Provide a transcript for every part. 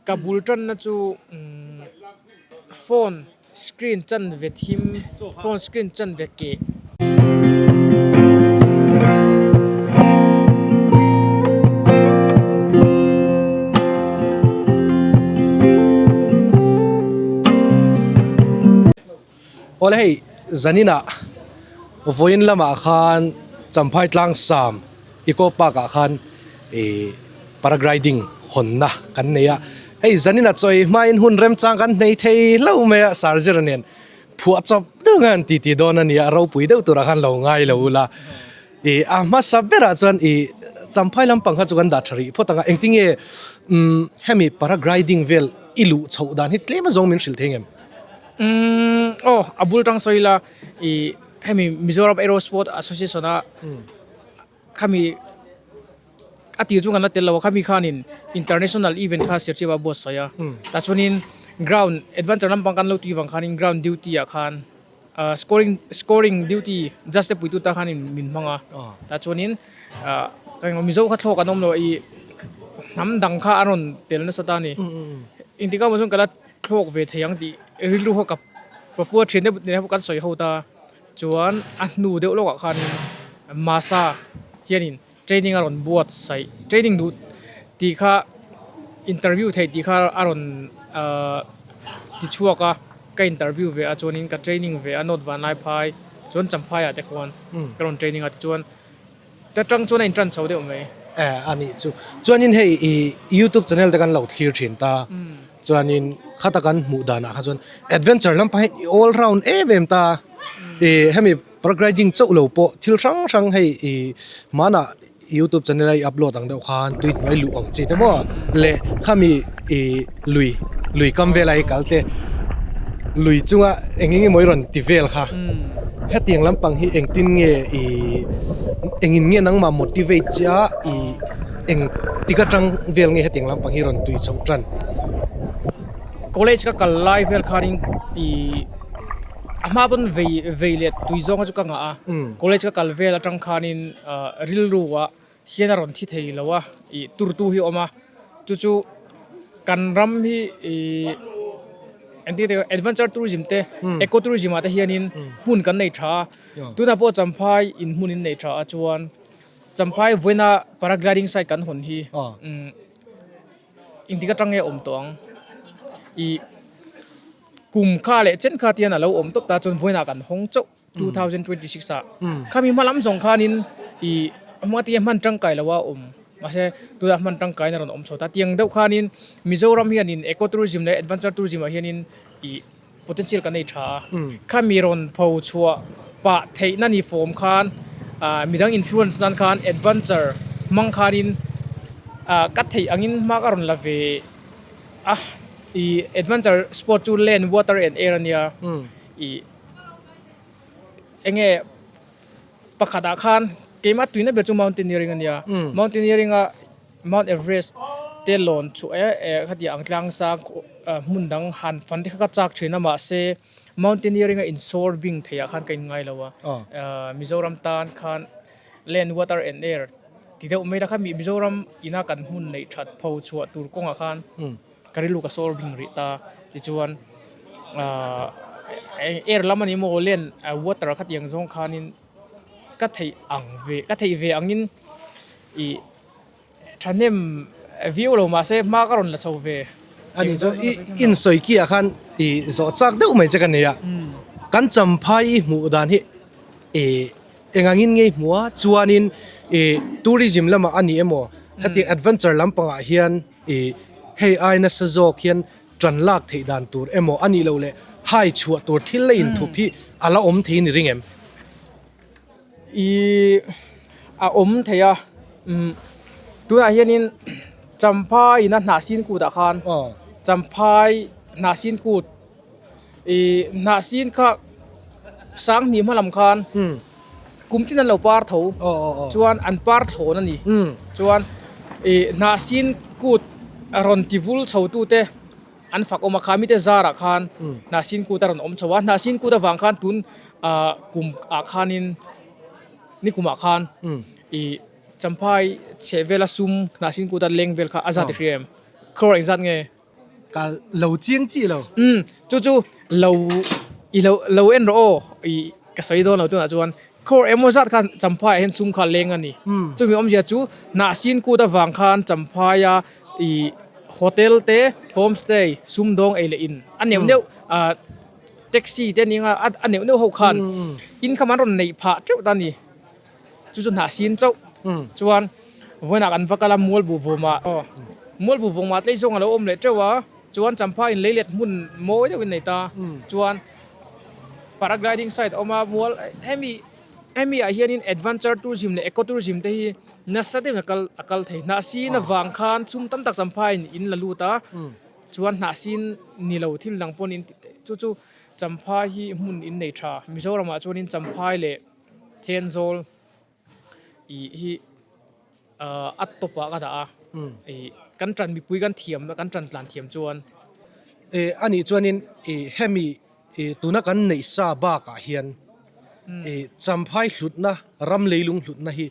Ka bul tanna chu phone screen chan ve thim phone screen chan ve keh. Awle hei Zanina vawiin lamah khan Champhai Tlang Sam Eco Park ah khan ih Paragriding hawnna kan nei a, hei Zanina chawi hmain hun remchang kan hnei thei hlo mai a, Sarzir nen phuah chawp deuh nge an titi dawn a ni a, ropui deuh turah khan lo ngai lo ula, ih a hmasa berah chuan ih Champhai lampang kha chu kan dah tha rih phawt ang a, engtinge umm hemi Paragriding vel i luh chhoh dan hi tlem azawng min hrilh thei ngem? Umm aw a bul tang sawi ila ih hemi Mizoram Aero Sport Association a khami a tir chu kan la tel lo a khami khanin international event kha sir chhiah a buatsaih sawi a tah chuanin ground adventure lampang kan lo tih vang khanin ground duty ah khan ah scoring scoring duty just te puitute khanin min hmang a tah chuanin ah kan emaw Mizo kha thlawk an awm loh ih hnam dang kha a rawn tel nasat a ni engtikah awm ah sawn ka la-- thlawk ve thei ang tih rilru ho ka papua thian deuh neih loh kan sawi ho ta chuan a hnu deuh lawkah khan mahsa hianin training a rawn buatsaih training duh tih kha interview theih tih kha a rawn ahh ti chhuak a ka interview ve a chuanin ka training ve a note vanlai phai chuan champhaiah te khawn ka rawn training a tichuan-- Te tang chuan a in tan chho deuh mai. Eh a nih chu. Chuanin hei i YouTube channel te kan lo thlir thin ta. Chuanin khata kan hmuh dan ah kha chuan adventure lampangin i all round em em ta. I hemi paragliding chauh lo pawh thil hrang hrang hei i hmanah YouTube channel ah i upload ang deuh khan tui hnuai luh ang chi te maw leh khami i. lui lui kam vela hi kalte lui chunga eng enge mawi rawn ti vel kha hetiang lampang hi eng tin nge i eng in nge nangma motivate chia i eng tika tang vel nge hetiang lampang hi rawn tui chho tan college ka kal lai vel khan in i ama pun vei vei let tui zong chu ka nga a college ka kal vel atang khan in rilru a hian a rawn thi thei lo a ih turtu hi a awm a chu chu kan ram hi ih engtik a tih ang adventure tourism te eco tourism ah te hian in hmun kan nei tha a tunah pawh champhai in hmun in nei tha a chuan champhai vawiina paragliding site kan hawn hi engtik aṭang nge a awm tawh ang ih kum kha leh chen kha te hian a lo awm tawp ta chuan vawiinah kan hawng chauh. two thousand twenty six ah kha mi hmalam zawng khan in i hmanga ti hian hman tangkai lo a awm mahse tuna hman tangkai in a rawn awm chhuat a tiang deuh khan in mizoram hian in eco tourism leh adventure tourism ah hian in i potential kan ei tha a kha mi rawn pho chhuah pah theih na ni fawm khan ah mi dang influence nan khan adventure hmang khan in ah ka thei ang in hma ka rawn la ve a i adventure sport chu land water and air a nia i enge pakhatah khan keima tuina ber chu mountaineering a nia mountaineering a mount everest te lawn chhuah e e khatiang ang tlang sang hmun dang han fan te kha ka chak thin a mahse mountaineering a insur bing theih ah khan ka inngai lo a ah mizoram tan khan land water and air ti deuh mai la kha mizoram ina kan hmun neih that pho chhuah tur kawngah khan. Ka rilru ka sawr hlim rih ta, tichuan ahh er lam a nih maw len water kha tiang zawng khanin ka theih ang ve, ka theih ve angin ih thahnem viau lo mahse hma ka rawn la chho ve. A nih chuan i insawi kiah khan i zawh chak deuh mai che ka nei a, kan champhai i hmuh dan hi ih eng angin ngei hmu a, chuanin ih tourism lamah a nih emaw hetiang adventure lampangah hian, I, Hei ai nasa zawk hian ṭan lak theih dan tur emaw a nih loh leh hai chhuah tur thil la inthup hi a la awm thei ni ring em? I, A awm thei a, umm, tunah hianin Champhai-in a hnah sin kutah khan Champhai hnah sin kut, Ih hnah sin kha sang hnih hma lam khan kum tin an lo par tho chuan an par thlawn a ni chuan ih hnah sin kut a rawn ti vul chho tu te an fak awm a kha mite zar ah khan hnah sin kut a rawn awm chho a hnah sin kut avang khan tun ah kum ah khan in nikum ah khan ih champha chheh vel a sum hnah sin kut a leng vel kha a za ti hrim em khror engzat nge? Ka lo chiang chi lo. Umm, chu chu lo i lo lo en rawh aw i ka sawi dawn lo tunah chuan kawr emaw zat khan Champhaiah hian sum kha a leng a ni. Chumi awmzia chu Nahsin kut avang khan Champhaia i hotel te, home stay, sum dawng ei leh in a neuh neuh ah taxi te nia a neuh neuh ho khan income an rawn neih phah teuh ta a ni. Chu chu hnah sin chauh chuan vawinak an va kal a mual buh vawm ah. Mual buh vawm ah tlei zawng a lo awm leh teuh a, chuan Champha in leilet hmun mawi deuh in a nei ta chuan paragliding site a awm a, mual hemi hemi ah hian in adventure tourism leh eco tourism te hi nasa deuh in a kal a kal thei. Hnah sin avang khan chhum tam tak Champha in in la lut a, chuan hnah sin ni lo thil dang pawn in chu chu Champha hi hmun in nei tha. Mizoram ah chuan in Champha leh. Thianzawl ih hi a tawpah ka dah a, ih kan ṭan mipui kan thiam na kan ṭan tlan thiam chuan. Ih anih chuanin ih hemi ih tuna kan neih sa bakah hian ih champhai hlutna ram leilung hlutna hi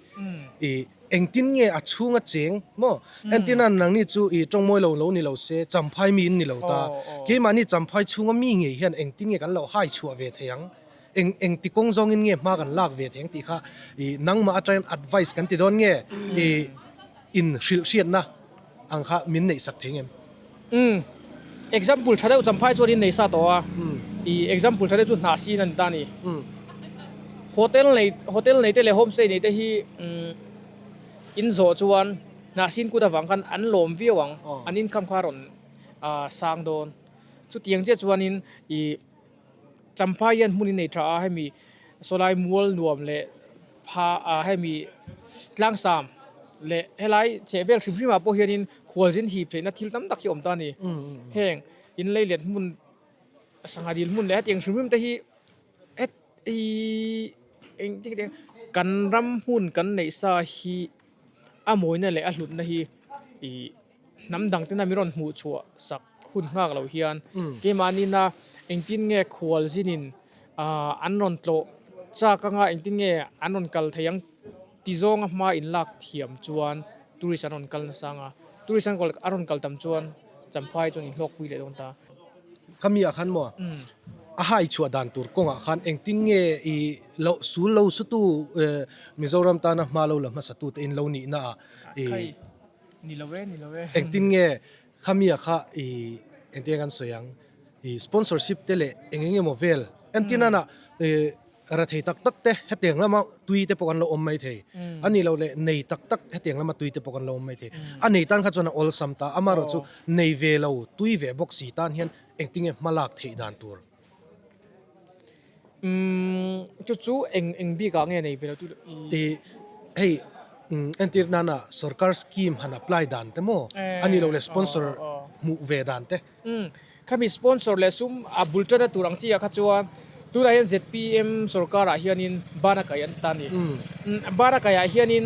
ih engtin nge a chhung a cheng maw? Entirna nang ni chu ih ṭawngmawi lo lo ni lo se champhai miin ni lo ta, keimahni champhai chhunga mi ngei hian engtin nge kan lo haichhuah ve thei ang? Eng eng ti kawng zawngin nge hma kan lak ve theng tih kha i nangmah atangin advice kan ti dawn nge? I inhrilh hriatna ang kha min neih sak thei ngem? Umm. Example tha deuh Champhai chuan in nei sa tawh a. I example tha deuh chu hna sin a ni ta a ni. Hotel nei hotel neite leh homestay neite hi umm in zawh chuan hna sin kut avang khan an lawm viau ang. An income kha a rawn sang dawn. Chutiang chiah chuanin i. Champha hian hmun inneih tha a hemi Sawlai mual nuam leh pha a hemi tlangsam leh helai chheh vel hrim hrim ah pawh hian in khual zin hip theihna thil tam tak hi awm ta a ni. Heng in lei let hmun sangha dil hmun leh heti ang hrim hrim te hi heti engtik atia kan ram hmun kan neih sa hi a mawina leh a hlutna hi ih-- Hnam dang ten a min rawn hmuh chhuah sak hun nghak lo hian keimahni na engtin nge khual zin in an rawn tlawh chak anga engtin nge an rawn kal thei ang ti zawng a hma in lak thiam chuan tourist an rawn kal nasa anga tourist an rawn kal tam chuan Champhai chuan in hlawkpui leh dawn ta. Khami ah khan maw a hai chhuah dan tur kawng ah khan engtin nge i lo sul lo sutu Mizoram tana hma lo la hmasa tu te in lo nih na ah i Ni lo e, ni lo e. Engtin nge khamia kha i engtin nge kan sawi ang, i sponsorship te leh eng eng emaw vel kan ti nana i rethei tak tak te hetiang lama tui te pawh kan lo awm mai thei a ni lo leh nei tak tak hetiang lama tui te pawh kan lo awm mai thei a nei tan kha chuan a awlsam ta amaherawhchu nei ve lo tui ve bawk si tan hian engtin nge hma lak theih dan tur Chu chu eng eng bik ah nge nei ve lo tu tih hei entir nan a sorkar scheme han apply dan te maw a ni lo leh sponsor hmuh ve dan te khami sponsor leh sum a bul tan a tur ang chi ah kha chuan tunah hian zpm sorkar ah hian in ban a kai an ti ta a ni ban a kai ah hian in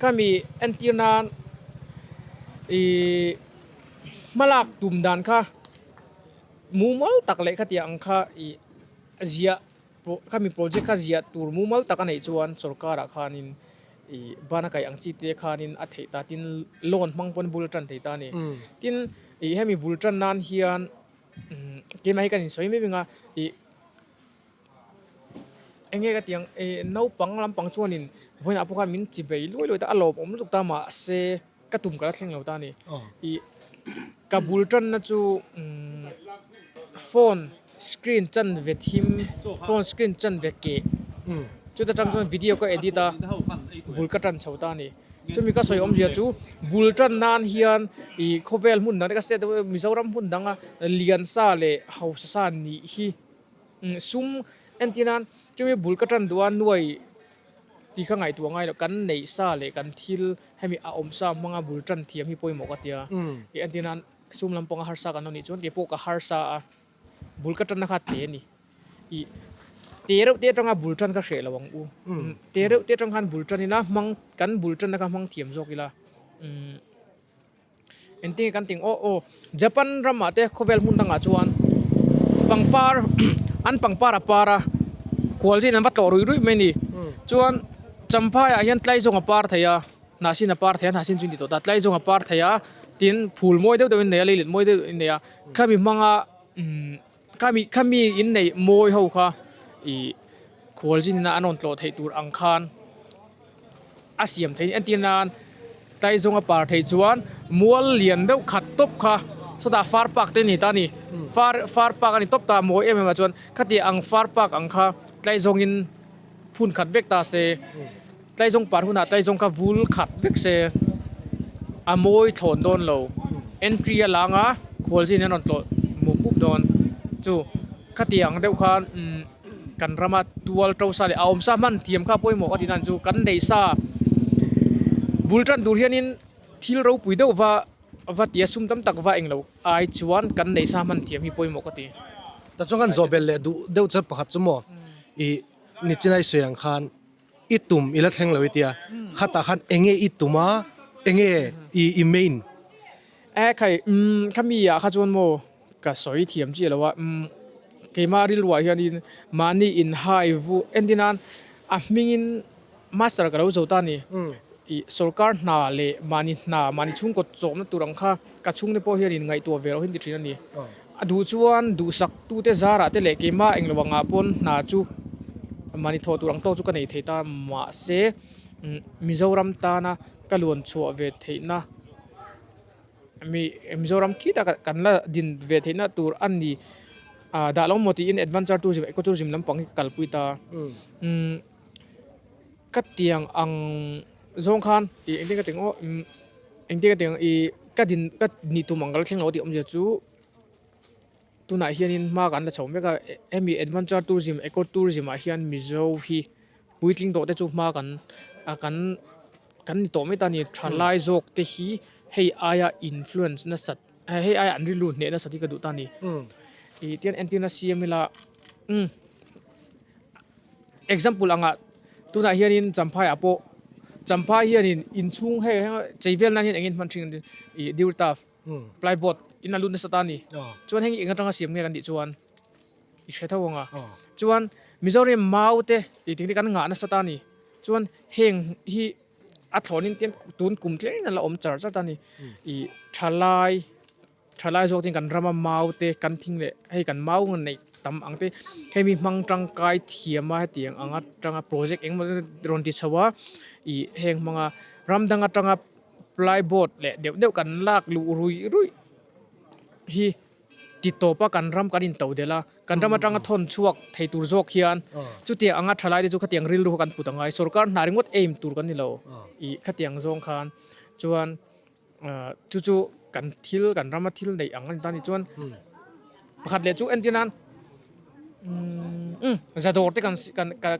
khami entir nan ihh hmalak tum dan kha. Mumal tak leh khatiah ang kha i ziah, khami project kha ziah tur mumal tak a neih chuan sorkarah khanin i ban a kaih ang chi te khanin a theih ta. Tin, loan hmang pawhin bul a tan thei ta a ni. Tin, i hemi bul tan nan hian keimah hi kan insawi mai mai ang a, i Eng nge ka tih ang, eh, naupang lampang chuan in vawiinah pawh khan min chi bei luai luai ta, a lawm awm lutuk ta mahse ka tum ka la thleng lo ta a ni. I ka bul tanna chu umm phone screen chan ve thim, phone screen chan ve keh chuta tang chuan video ka edit a, bul ka tan chho ta a ni. Chumi ka sawi awm zia chu bul tan nan hian ih khawvel hmun dang te ka state Mizoram hmun danga lian sa leh hausa sa nih hi. Sum entina chumi bul ka tan duhah nuai tih kha ngaihtuah ngai lo. Kan neih sa leh kan thil hemi a awm sa hmanga bul tan thiam hi pawimawh ka tia. Tih entina sum lam pawng a harsa kan lo nih chuan keipawh ka harsa a, bul ka tanna kha te a ni. I te reuh te atanga bul tan ka hreh lo ang u. Te reuh te atang khan bul tan ila hmang, kan bul tanna kha hmang thiam zawk ila umm Engtin kan ting aw aw. Japan ramah te khawvel hmun dangah chuan pangpar an pangpar a par a kual zin an va tlawh rui rui mai a ni chuan champhaiah hian tlai zawng a par thei a hnah sin a par thei a hnah sin chu intih tawh ta tlai zawng a par thei a tin phul mawi deuh deuhin a nei a leilet mawi deuh deuhin a nei a khami hmanga umm-- Khami khami inneih mawi ho kha i khual zin na an rawn tlawh theih tur ang khan a siam theih a tia nan Taizawng a par theih chuan mual lian deuh khat tawp kha sawtah far park te ani ta ni far far park ani tawp ta mawi em em ah chuan khatiang far park ang kha Taizawng in phun khat vek ta se. Tlaizawng par hunah Tlaizawng kha vul khat vek se a mawi thlawn dawn lo. Entry a langa khualzin an rawn tlawh mup mup dawn. Chu khati ang deuh khan kan rama tual to sa leh a awm sa hman thiam kha pawimawh ka tinan chu kan nei sa bul tan tur hianin thil ropui deuh va va tia sum tam tak va eng lo ai chuan kan nei sa hman thiam hi pawimawh ka ti. Tah chuan khan zawhbel leh duh deuh che pakhat chu maw i ni chin a i sawi ang khan. I tum ila thleng lo itia khatah khan enge i tum a, enge i i main? Ae khai umm kha mi ah kha chuan maw ka sawi thiam chiah lo a umm keimah rilruah hian in mahni in hai vu entin a a hming in master ka lo zo ta a ni i sorkar hna leh mahni hna mahni chhungkawt chawhna tur ang kha Ka chhungte pawh hian in ngaihtuah ve lohin ti thin a ni. A duh chuan duhsaktute zarah te leh keimah englo angah pawn hna chu mahni thawh tur ang tawk chu ka nei thei ta mahse Mizoram tana ka luan chhuah ve theihna Mizoram khita kan la din ve theihna tur a ni dahlawng maw tiin adventure tourism, eco tourism lampang hi ka kalpui ta. Ka tiang ang zawng khan ih engtin ka ti ang aw umm engtin ka ti ang ih ka din ka nih tum ang kal thleng lo tih awmzia chu tunah hianin hma kan la chho mek a hemi adventure tourism eco tourism ah hian mizo hi puitling tawh te chu hma kan ah kan kan ni tawh mai ta a ni tha lai zawk te hi hei aia influence nasat-- Hei aiah an ri lut hnehna sati ka duh ta ni. Ih tian entirna siam ila um example anga tunah hianin Champhaia pawh Champhai hianin inchhung hei heng cheivelna hian eng in hman thin ih dear turf plyboard in a lut nasa ta ni. Chuan heng hi eng atanga siam nge kan tih chuan i hre tho ang a. Chuan Mizo riam mau te ih tih hi kan ngah nasa ta ni. Chuan heng hi. A thlawnin tiang tun kum tlem in ala awm char chat a ni. I thalai thalai zawk ten kan rama mau te kan thing leh hei kan mau nei tam ang te hemi hmang tangkai thiama heti ang anga tanga project engemaw zat te rawn ti chhoh a i heng hmanga ram dang atanga ply board leh deuh deuh kan lak luh rui rui hi-- Ti tawpa kan ram kan into delh a, kan ram atanga thawn chhuak thei tur zawk hian chutiang anga tha laite chu khatiang rilru kha kan put angai. Sorkar hna ringawt aim tur kan ni lo i khatiang zawng khan chuan chu chu kan thil kan rama thil neih ang a ni ta ni chuan pakhat leh chu entirna umm za dawr te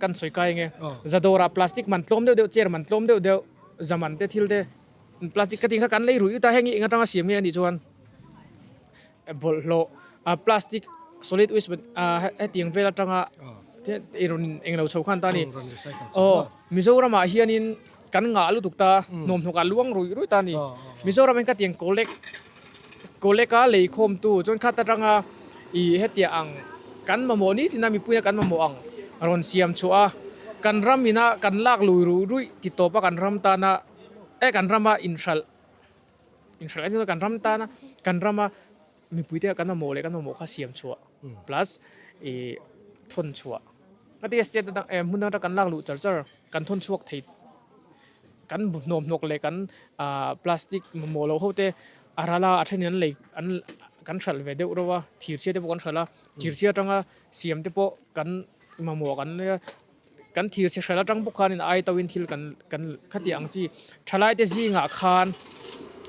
kan sawi kai ang e, za dawrah plastic man tlawm deuh deuh, chair man tlawm deuh deuh, zaman te thil te. Plastic cutting kha kan lei ruih ruih ta heng hi eng atanga siam nge anih chuan bawlh hlawh a plastic solid waste heti ang vel atanga i rawn eng lo chho khan ta ni aw Mizoram ah hian in kan ngah lutuk ta nuam hnawk ah luang ruih ruih ta ni Mizoram in ka tiang collect collect a lei khawm tu chuan khat atanga i heti ang kan mamawh ni tlin a mipui a kan mamawh ang rawn siam chhuah a kan ram in a kan lak lui ruih ruih titawp a kan ram tan a e kan rama inhralh inhralh engemawzat kan ram tan a kan rama mipui te kan mamawh leh kan mamawh kha siam chhuah plus ihh thawn chhuah ka ti a state atang e hmun atang kan lak luh char char kan thawn chhuak thei kan hnawk hnawk leh kan ahh plastic mamawh loh hote a ralh a a thenin an lei an kan hralh ve deuh reuh a thirchhiate pawh kan hralh a thirchhia atanga siam te pawh kan mamawh ang an nia. Kan thir chhe hralh atang pawh khanin a ai toin thil kan kan khatiah ang chi. Thalaite zingah khan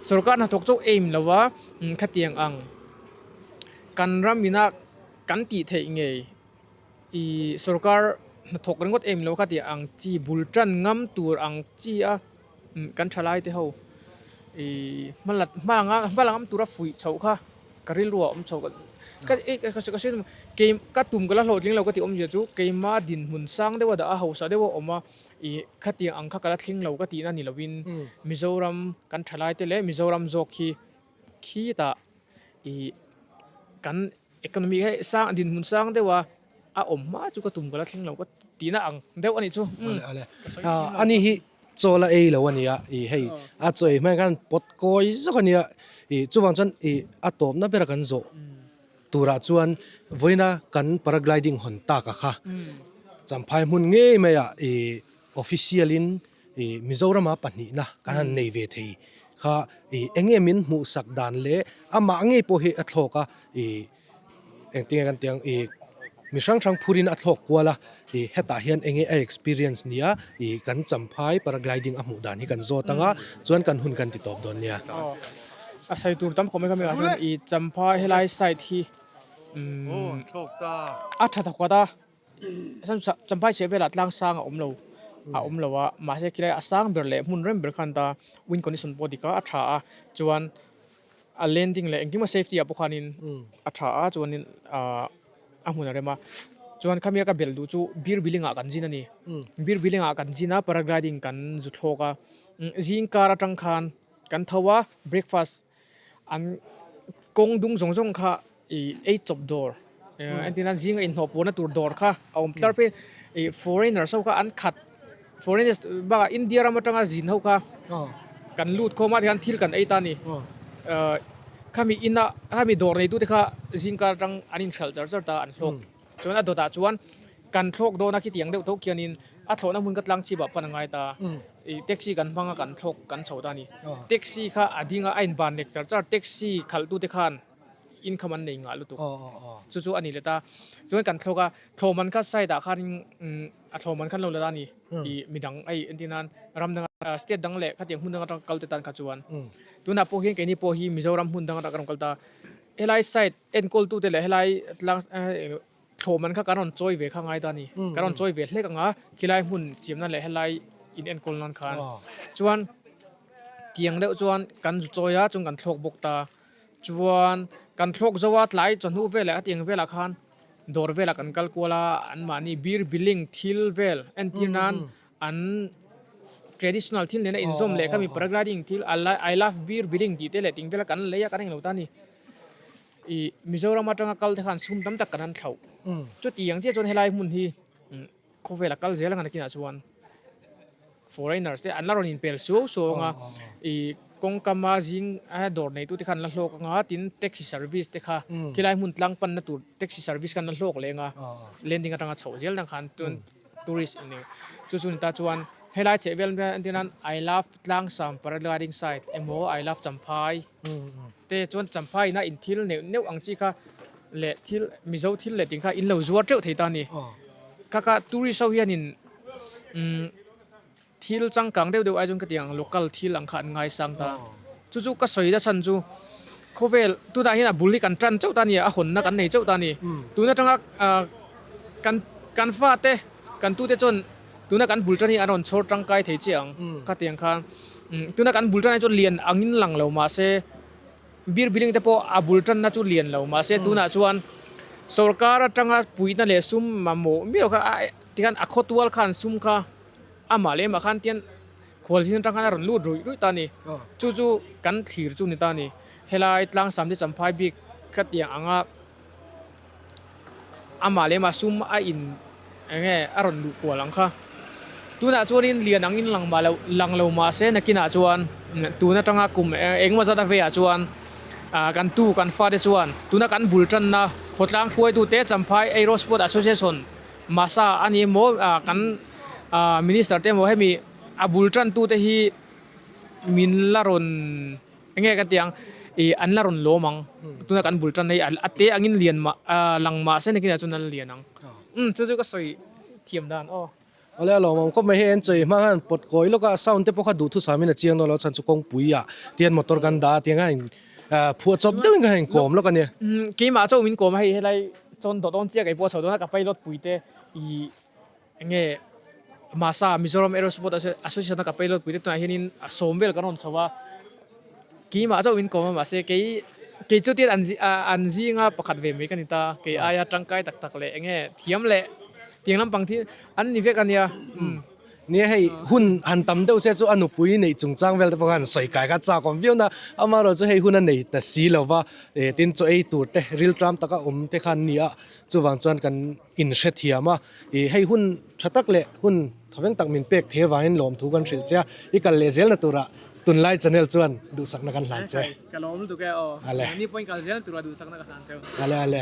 sorkar hnathawk chauh aim lova min khatiang ang. Kan ram ina kan tih theih ngei i sorkar hnathawk ringawt aim lo khatiah ang chi bul tan ngam tur ang chi a. Kan thalai te ho i hmalam tura fuih chhoh kha ka ril ruah awm chhoh ka tum ka la hlawh tling lo ka tih awm zia chu keima dinhmun sang deuh a dah a hausa deuh a awm a i khatiang ang kha ka la thleng lo ka tih na ni lo in Mizoram kan thalai te leh Mizoram zawk hi khitah i kan Economy hi sang dinhmun sang deuha a awm hma chu ka tum ka la thleng lo ka tihna ang deuh a nih chu. Ani hi chawl a ei lo a nia ih hei a chawi hman khan pawt kawi zawk a nia ih chuvang chuan ih a tawpna bera kan zawh turah chuan vawiina kan paragliding hawn taka kha champhai hmun ngei maiah ih official in Mizorama pahnihna kan han nei ve thei kha eng nge min hmuh sak dan le amah ngei pawh hi a thlawk a engtin nge kan tih ang mi hrang hrang phur in a thlawk kual a hetah hian eng nge a experience nia kan champhai paragliding a hmuh dan hi kan zawt anga chuan kan hun kan ti tawp dawn nia a sai tur tam khawp mai kha mi ah chuan i champhai helai site hi a tha ta kawt a. Champhai chheh velah tlang sang a awm lo a awm lo a, mahse khilai a sang ber leh hmun rem ber khan ta win condition pawh a dik a, a tha a chuan a landing leh engkim a safety ah pawh khanin a tha a chuanin ah a hmun a rem a, chuan khami a ka belh duh chu beer billing ah kan zin a ni, beer billing ah kan zin a paragliding kan zu thlawk a, zingkar atang khan kan tho a breakfast-- An kawng dung zawng zawng kha i ei chawp dawr a ni a, zinga inhawh pawhna tur dawr kha a awm tlar phei. I foreigners ho kha an khat, foreigners bakah India ram atanga zin ho kha kan lut khawm a, tichuan thil kan ei ta a ni. Khami ina, khami dawr neitute kha zingkar atang an inhralh char char ta, an hlawk. Chuan a dawtah chuan kan thlawk dawn a, khitiang deuh tawh khianin a thlawhna hmun ka tlang chhip ah pan a ngai ta a, ih taxi kan hmang a kan thlawk kan chho ta a ni. Taxi kha a ding a, a inban nek char char, taxi khalhtu te khan income an nei nghah lutuk, chu chu a ni let a, chuan kan thlawk a, thlawh man kha side ah khanin a thlawh man kha an lo la ta a ni, ih mi dang ai entir nan ram dang atang state dang leh khatiang hmun dang atang ka kal te tan kha chuan tunah pawh hian keini pawh hi Mizoram hmun dang atang ka rawn kal ta a, helai side. Enkawltute leh helai tlang thlawm an kha kan rawn chawi ve kha ngai ta a ni. Kan rawn chawi ve hlek ang a, khilai hmun siamna leh helai in enkawl nan khan. Chuan tiang deuh chuan kan zu chawi a, chung kan thlawk bawk ta. Chuan kan thlawk zo a, tlai chawhnu vel leh a tiang velah khan dawr velah kan kal kual a, anmahni beer billing thil vel entir nan An traditional thil nena inzawm leh kami paragliding thil I love beer biling tih te leh ting te la kan lei a kan englo ta ani. I Mizoram atanga kal te khan sum tam tak kan han thlauh. Chuti ang chiah chuan helai hmun hi khawvela kal zel anga nakinah chuan foreigners te an la rawn inpel suau suau anga i kawngkama zing a dawr nei tu te khan an la hlawk anga tin taxi service te kha khilai hmun tlang panna tur taxi service khan an la hlawk leh anga landing atanga chhoh zel dang khan chuan Tourist i nih. Chu chu ni ta chuan helai chheh vel hian entir nan I love tlangsam paragliding site emaw I love champhai te chuan champhai ina in thil neuh neuh ang chi kha leh thil mizo thil leh ting kha in lo zuar teuh thei ta a ni. Kaka tourist ho hian in umm. Thil changkang deuh deuh ai chuan ka tiang local thil ang kha an ngaisang ta a, chu chu ka sawi ta chhan chu khawvel tunah hian a bul hi kan tan chauh ta a ni, a hawnna kan nei chauh ta a ni, tun atanga kan kan fate kan tute chuan tuna kan bul tan hi an rawn chhawr tangkai thei chiah ang khatiang khan tuna kan bul tan hi chu lian angin lang lo mahse birbiling te pawh a bul tanna chu lian lo mahse tunah chuan sorkar atanga puihna leh sum mamawh miau kha a. Tikhan a khawtual khan sum kha amah leh mah khan tian khual zing atang khan a rawn lut ruih ruih ta a ni. Chu chu kan thlir chu a ni ta a ni. Helai tlang Samde Champhai bik ka tiang anga amah leh mah sum a in eng nge a rawn luh kual ang kha. Tunah chuanin lian ang in lang mah lo lang lo mahse nakinah chuan tun atanga kum eng emaw zat a veiah chuan ah kan tu kan fate chuan tuna kan bul tanna khawtlang huaitute Champhai Aero Sport Association. Mahsa a ni emaw ahh kan ahh minister te emaw hemi a bul tan tute hi min la rawn eng nge ka tih ang ihh an la rawn lawm ang tuna kan bul tan hi a te ang in lian mah ahh lang mah se nakin ah chuan an lian ang umm chu chu ka sawi thiam dan aw. Awle a lawmawm khawp mai hei an chei hma khan pawt kawi lawk a sound te pawh kha duhthusam in a chiang dawn lo a chhan chu kawngpuia tihian motor kan dah a tiang khan Phuah chawp deuhin ka heng kawm lawk a nia. Keimah chauh min kawm a, hei helai chuan doh dawn chiak ei pawh a chho dawn a, ka pilot pui te ih eng nge Masa Mizoram Aerosport Association a ka pilot pui te tunah hianin a sawm vel ka rawn chho a, keimah chauh min kawm a mahse kei kei chu tian an zinga pakhat ve mai ka ni ta, kei aia tangkai tak tak leh eng nge thiam leh tiang lampang thil an ni vek a nia. Nia hei hun han tam deuh se chu a nupui neih chungchang vel te pawh khan sawi kai kha chak awm viau na amaherawh chu hei hun a nei ta si lo va e tin chaw ei tur te riltram taka awm te khan nia chuvang chuan kan inhre thiam a e hei hun tha tak leh hun tha veng tak min pek thei avangin lawm thu kan hrilh che a i kal leh zel na turah tunlai channel chuan duhsakna kan hlan che ka lawm tuk e aw ale ni point kal zel na turah duhsakna ka hlan che ale ale.